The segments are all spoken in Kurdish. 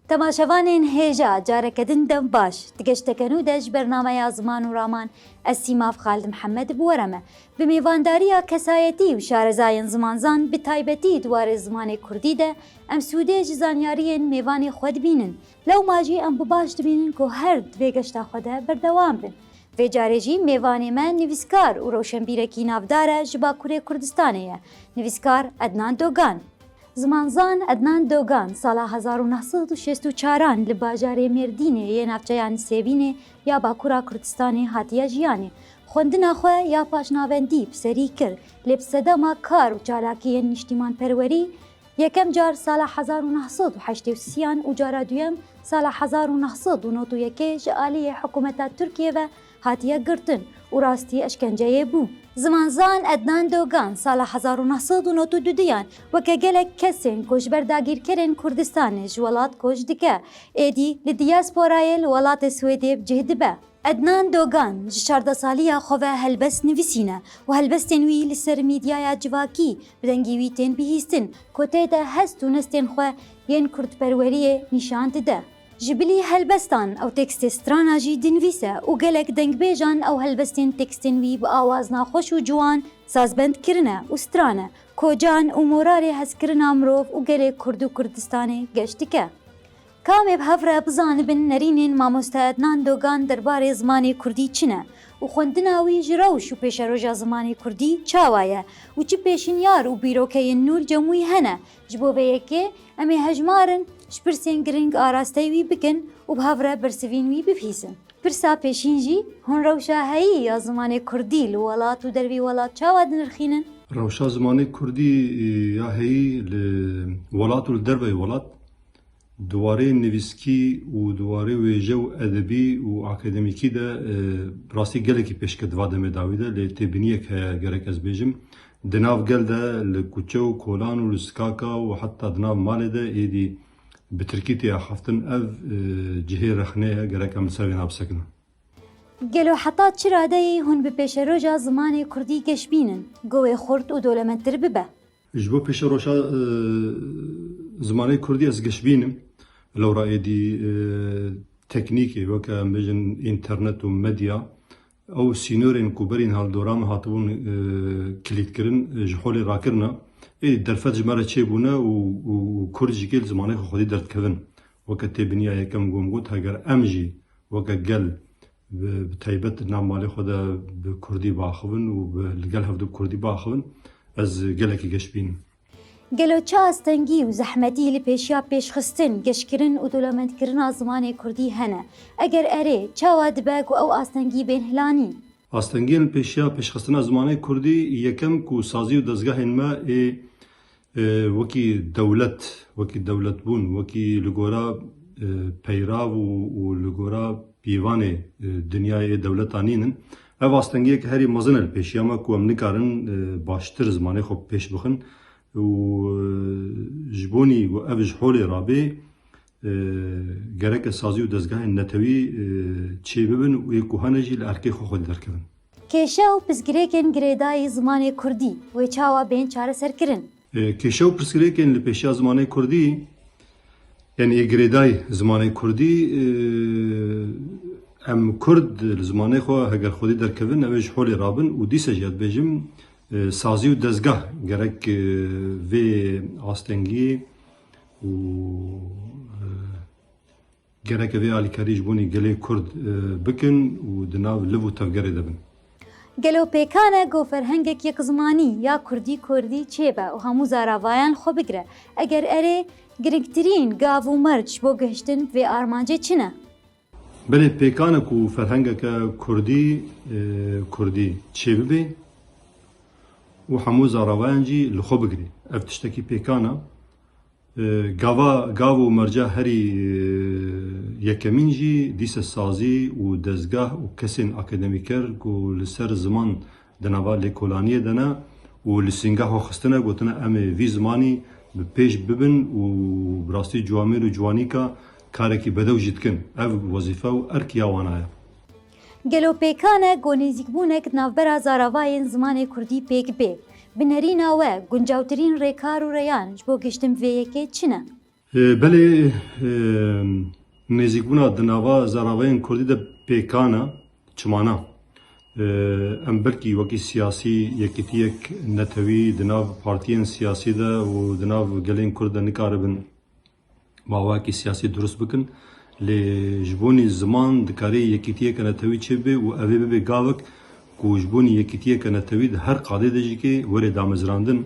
Temaşevanên hêja careke din dev baş. Di geşteke nû de ji bernameya Ziman û Raman ez Sîmav Xalid Mihemed bi we re me. Bi mêvandariya kesayetî û şarezayên zimanzan bi taybetî di warê zimanê kurdî de Em sûdê ji zanyariyên mêvanê xwe dibînin. Lewma jî em bi baş dibînin ku her di vê geşta xwe de berdewam bin. Vê carê jî mêvanê me nivîskar û rewşenbîrekî navdar e ji Bakurê Kurdistanê ye, nivîskar Ednan Dogan. Zimanzan Ednan Dogan sala hezar û neh sed û şêst û çar an li bajarê Mêrdînê yê navçeya Nisêbînê ya Bakura Kurdistanê hatiye jiyanê. Xwendina xwe ya paşnavendî bi serî kir lê bi sedema kar û çalakiyên nîştîmanperwerî Yekem car sala hezar û neh sed û heştê û sî yan û cara duyem sala hezar û neh sed û nod û yekê ji aliyê hikûmeta Tirkiyê ve hatiye girtin û rastî eşkenceyê bû. Zimanzan Ednan Dogan sala hezar û neh sed û nod û du duyan weke gelek kesên ku ji ber dagîrkerên Kurdistanê ji welat koç dike, êdî li diyasporayê li welatê Swêdê bi cih dibe. Ednan Dogan ji çardeh saliya xwe ve helbest nivîsîne û helbestên wî li ser mîdyaya civakî Bi dengî wî tên bihîstin ku tê de hest û nestên xwe yên kurdperweriyê nîşan dide. Ji bilî helbestan ew tekstê strana jî dinivîse û gelek dengbêjan ew helbestên tekstên wî bi awazna xweş û ciwan sazbend kirine û strane ku can û moralê hezkirina mirov û gelê Kurd û Kurdistanê geş dike. Ka em ê bi hev re bizanibin nerînên mamoste Ednan Dogan derbarê zimanê kurdî çi ne û xwendina wî ji rewş û pêşeroja zimanê kurdî çawa ye û çi pêşinyar û bîrokeyên nû li cem wî hene, ji bo vê yekê em ê hejmarin ji pirsên giring arastey wî bikin û bi hev re bersivîn wî bibihîzin. Pirsa pêşîn jî, hûn rewşa heyî ya zimanê kurdî li welat û dervî welat çawa dinirxînin? Rewşa zimanê kurdî ya heyî li welat û li derveyî welat Di warê nivîskî û di warê wêje û edebî û akademîkî de bi rastî gelekî pêşket di va demê dawî de lê têbîniyek heye gerek ez bêjim. Di nav gel de li kuçe û kolan û li sikaka û heta di nav malê de êdî bi tirkî tê axaftin ev cihê rexne ye gerek em li ser vêna bisekinin. Gelo heta çi radeyê hûn bi pêşeroja zimanê kurdî geş bînin ku wê xurt û dolemendtir bibe? Ji bo pêşeroşa zimanê kurdî ez gişbînim lewra êdî teknîkê weke em bêjin înternet û medya ew sînorên ku berîn haldora me hatibûn kilîtkirin ji holê rakirine êdî derfet ji me re çêbûne û kurd jî kêl zimanê xwe xwedî derdikevin. Weke têbiniya yekem ku em got heger em jî weke gel Bi taybet di nav malê xwe de bi kurdî biaxivin û li gel hev de bi kurdî biaxivin ez gelekî geş bînim. Gelo çi astengî û zehmetî li pêşiya pêşxistin, geşkirin û dolemendkirina zimanê kurdî hene? Eger erê, çawa dibe ku ew astengî bên hilanîn? Astengiyên li pêşiya pêşxistina zimanê kurdî yekem ku sazî û dezgehên me ê Wekî dewlet, wekî dewletbûn, wekî li gora peyrav û li gora pîvanê dinyayê ê dewletan nîn in. Ev astengiyeke herî mezin e li pêşiya me ku em nikarin baştir zimanê xwe bi pêş bixin û ji bo nî ku ev ji holê rabê Gereke sazî û dezgahên netewî çêbibin û ê kohanê jî li erkê xwe xwedî derkevin. Kêşe û pirsgirêkên girêdayî zimanê kurdî wê çawa bên çareserkirin? Kêşe û pirsgirêkên li pêşiya zimanê kurdî yanî ê girêdayî zimanê kurdî em kurd li zimanê xwe heger xwedî derkevin ew ê ji holê rabin û dîsa jî ez dibêjim sazî û dezgah gerek vê astengiyê û gereke vê alîkarî ji bonê gelê Kurd bikin û di nav liv û tevgerê de bin. Gelo pêkan e ku ferhengek yekzimanî ya kurdî kurdî çêbe û hemû zaravayan xwe bigire? Eger erê, girngtirîn gav û merc bo gihiştin bi vê armancê çi ne? Belê pêkane ku ferhengeke kurdî kurdî çêbibê û hemû zarawayan jî li xwe bigirê. Ev tiştekî pêkane. Gava gav û merca herî yekemîn jî dîse sazî û dezgeh û kesên akademîker ku li ser ziman Di nava lêkolaniyê de ne û li sîngeha xistine gotine em ê vî zimanî bi pêş bibin û bi rastî ciwamêr û ciwanîka karekî bedew jî dikin. Ev wezîfe û erk ya wan a ye. Gelo pêkan e ku nêzîkbûnek di navbera zaravayên zimanê kurdî pêk bê? Bi nerîna we, guncewtirîn rêkar û reyan ji bo gihiştin bi vê yekê çi ne? Belê nêzîkbûna di nava zaravayên kurdî de pêkan e, çima na? Em belkî wekî siyasî yekîtiyek netewî di nav partiyên siyasî de û di nav gelên kurd de nikaribin mawayekî siyasî dirust bikin. Lê ji bonî ziman dikarê yekîtiyeke netewî çêbibe û ev ê bibe gavek ku ji bonî yekîtiyeke netewî di her qadê de jî ke were damezrandin.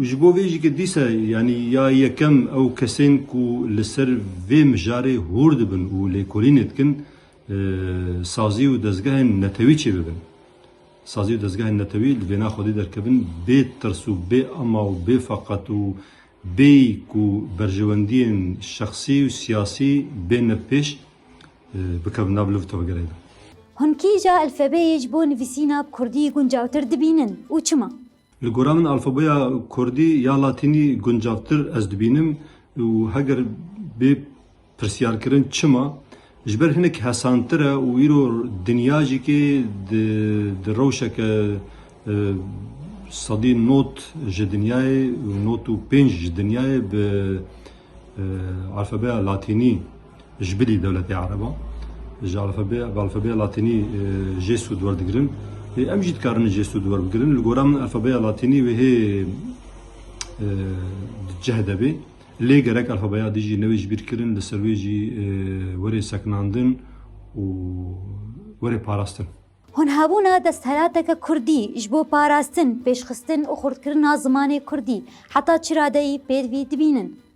Ji bo vê jî ke dîsa yanî ya yekem ew kesên ku li ser vê mijarê hûr dibin û lêkolînê dikin sazî û dezgehên netewî çêbibin. Sazî û dezgehên netewî li vêna xwedî derkevin bê tirs û bê ema û bê feqet û bêyî ku berjewendiyên şexsî û siyasî bên li pêş bikevin nav liv tevgerê de. Hûn kîja elfebeyê ji bo nivîsîna bi kurdî guncawtir dibînin û çima? Li gora min alfabeya kurdî ya latînî guncavtir ez dibînim û heger bê pirsyarkirin çima, ji ber hinek hesantir e û îro dinya jî kê di rewşeke sedî not ji dinyayê not û pênc ji dinyayê bi alfabeya latînî Ji bilî dewletê ereban ji alfabeya latînî jê sûd werdigirin. Lê em jî dikarin jê sûd werbigirin. Li gora min alfabeya latînî wêhê di cih de bê. Lê gerek alfabeya dî jî newê ji bîr kirin, li ser wê jî werê sekinandin û werê parastin. Honhebûna desthilateke kurdî ji bo parastin, pêşxistin û xurtkirina zimanê kurdî heta çi radeyî pêdivî dibînin?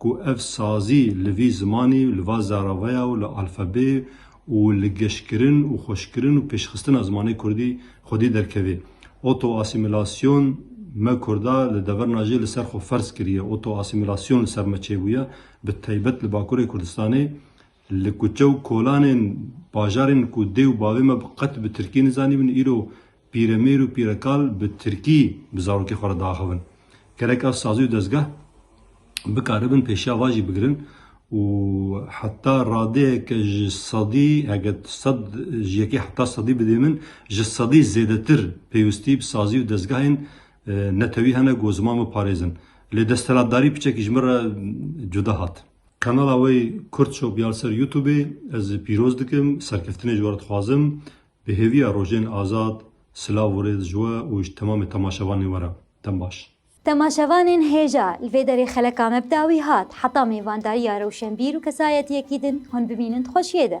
ku ev sazî li vî zimanî û li va zerraveya û li alfabeyê û li geşkirin û xweşkirin û pêşxistina zimanê kurdî xwedî derkevê. Oto-asîmîlasyon Me kurda li deverna jê li ser xwe ferz kiriye, oto-asîmîlasyon li ser me çêbûye, bi taybet li Bakurê Kurdistanê, li kuçe û kolanên bajarên ku dê û bavê me bi qet bi tirkî nizanîbin, îro Pîremêr û pîrekal bi tirkî bi zarokê xwe re diaxivin. Gerek ev sazî û dezgeh bikaribin pêşiya van jî bigirin û heta radeyeke ji sedî heke sed ji yekê heta sedî bidê min ji sedî zêdetir pêwistî bi sazî û dezgehên netewî hene ku ziman biparêzin. Lê desthilatdarî piçekî ji min re cuda hat. Kanala wê Kurd Shop ya li ser Youtubê ez pîroz dikim. Serkeftinê ji we re dixwazim. Bi hêviya Rojên Azad, silav û rêz ji we û ji temamê temaşevanên we re. Dem baş. Temaşevanên hêja, li vê derê xeleka me bi dawî hat, heta mêvandariya rewşenbîr û kesayetiyekî din hûn bimînin di xweşiyê de.